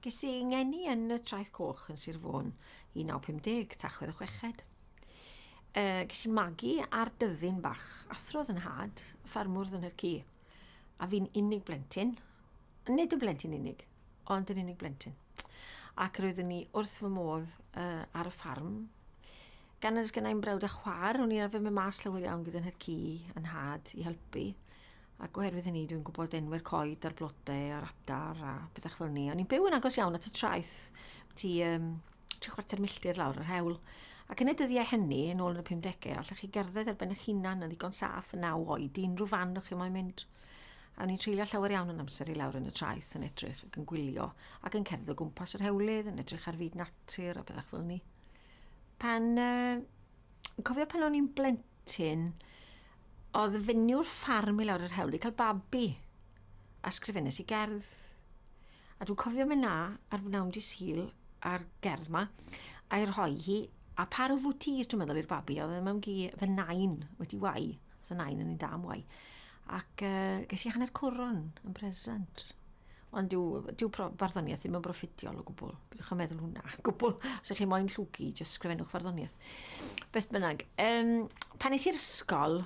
Ges i 'ngeni yn y Traeth Coch yn Sir Fôn 1950, Tachwedd y Chweched. E, ges i'n magu ar dyddyn bach, athrodd yn had, ffarmwr yn yr ci. A fi'n unig blentyn, nid yn blentyn unig, ond yn unig blentyn. Ac roeddwn ni wrth fy modd uh, ar y ffarm. Gan ys gynnau'n brawd a chwar, o'n i'n arfer mynd mas llawer iawn gyda'n hyrci yn had i helpu. ac oherwydd hynny dwi'n gwybod enwau'r coed a'r blodau a'r adar a bethau fel ni. O'n i'n byw yn agos iawn at y traeth, ti um, tri chwarter milltir lawr yr hewl. Ac yn y dyddiau hynny, yn ôl yn y 50au, allwch chi gerdded ar ben eich hunan yn ddigon saff yn naw oed i unrhyw fan o'ch chi moyn mynd. A o'n i'n treulio llawer iawn yn amser i lawr yn y traeth yn edrych ac yn gwylio ac yn cerdded o gwmpas yr hewlydd yn edrych ar fyd natur a bethau fel ni. Pan uh, cofio pan o'n i'n blentyn, oedd y fenyw ffarm i lawr yr hewl i cael babi, a sgrifennes i gerdd. A dwi'n cofio mynd na ar wnawn di syl ar gerdd ma, a'i rhoi hi, a par o fwtis dwi'n meddwl i'r babi, oedd e mewn gi fy nain wedi wai, os y nain yn un da am wai. Ac uh, ges i hanner cwron yn present. Ond dyw, dyw farddoniaeth ddim yn broffidiol o gwbl. Bydwch yn meddwl hwnna, gwbl. Os ydych chi'n moyn llwgu, jyst sgrifennwch farddoniaeth. Beth bynnag, um, pan nes i'r ysgol,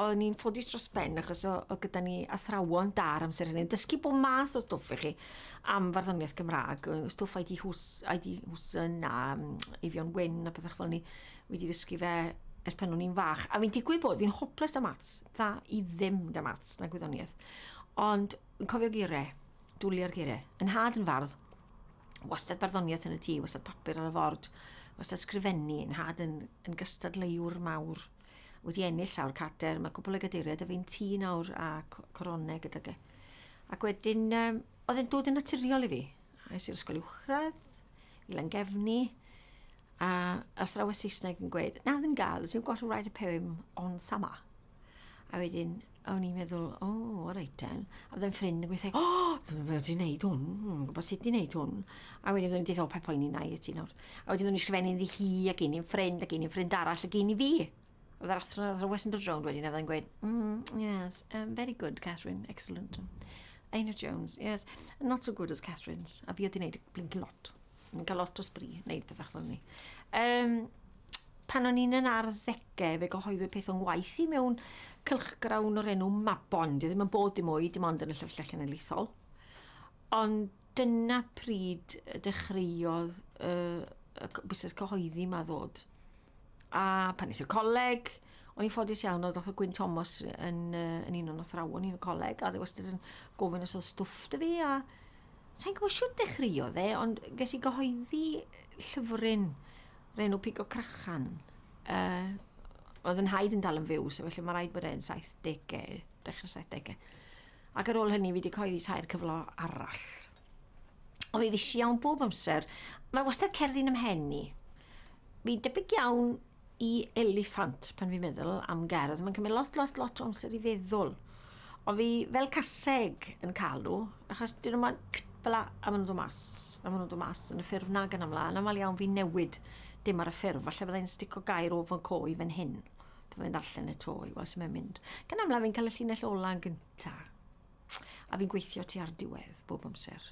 o'n ni'n ffodus dros ben achos o, o gyda ni athrawon dar amser hynny. Dysgu bod math o stwff i chi am farddoniaeth Gymraeg, stwff ID Hwsyn a Eifion Wyn a pethau fel ni. wedi ddysgu fe ers pan o'n i'n fach. A fi'n digwydd bod, fi'n hoples da maths, dda i ddim da maths na gwyddoniaeth. Ond yn cofio gire, dwlia'r gire. Yn had yn fardd, wastad barddoniaeth yn y tŷ, wastad papur ar y ford, wastad sgrifennu, yn had yn, yn gystadleuwr mawr. Wedi ennill sawr cater, mae cwbl o gadeiriau, a fi'n tŷ nawr a coronau gyda ge. Ac wedyn, um, oedd e'n dod yn naturiol i fi. Es i'r ysgol uwchradd, i Langefni, a athrawes Saesneg yn gweud, now then girls, you've got to write a poem on summer. A wedyn, o'n i'n meddwl, o, oh, o reit ten. A byddai'n ffrind yn gweithio, o, oh, dwi'n meddwl ti'n neud hwn, dwi'n gwybod sut ti'n neud hwn. A wedyn byddai'n dweud, o, pe poen i'n nai i ti nawr. A wedyn byddai'n ysgrifennu iddi hi, ac un i'n ffrind, ac un i'n ffrind arall, ac un i fi. Oedd yr athro, oedd yr wes yn dod rownd wedyn, a fydda'n gweud, mm, yes, um, very good, Catherine, excellent. Einar Jones, yes, not so good as Catherine's. A fi oedd i'n neud blink lot. Yn cael lot o sbri, neud pethach fel ni. Um, pan o'n i'n yn arddegau, fe gyhoeddwyd peth o'n waith i mewn cylchgrawn o'r enw Mabon. Dwi ddim yn bod dim oed, dim ond yn y llyfrgell genedlaethol. Ond Dyna pryd y dechreuodd y, y busnes cyhoeddi yma ddod. A pan nes i'r coleg, o'n i'n ffodus iawn oedd Dr Gwyn Thomas yn, uh, yn un o'n athrawon i'n y coleg, a dde wastad yn gofyn os oedd stwff dy fi, a sa'n gwybod siwt dechreuodd dde, ond ges i gyhoeddi llyfryn renw Pigo Crachan. Uh, oedd yn haid yn dal yn fyw, so felly mae rhaid bod e'n 70au, dechrau 70au. Ac ar ôl hynny fi wedi coeddi tair cyfle arall. Ond fi fisi iawn bob amser. Mae wastad cerddi'n ymhen i. Fi'n debyg iawn i eliffant pan fi'n meddwl am gerdd. Mae'n cymryd lot, lot, lot o amser i feddwl. Ond fi fel caseg yn cael nhw, achos dyn nhw'n mynd fel la, a maen nhw'n dod mas. A maen nhw'n dod mas yn y ffurf nag yn amlaen. Aml iawn fi'n newid dim ar y ffurf. Falle byddai'n stico gair o fy co i fan hyn. Dwi'n mynd allan y to i weld sy'n mynd mynd. Gan amlaf fi'n cael y llinell ola yn gynta. A fi'n gweithio ti ar diwedd bob amser.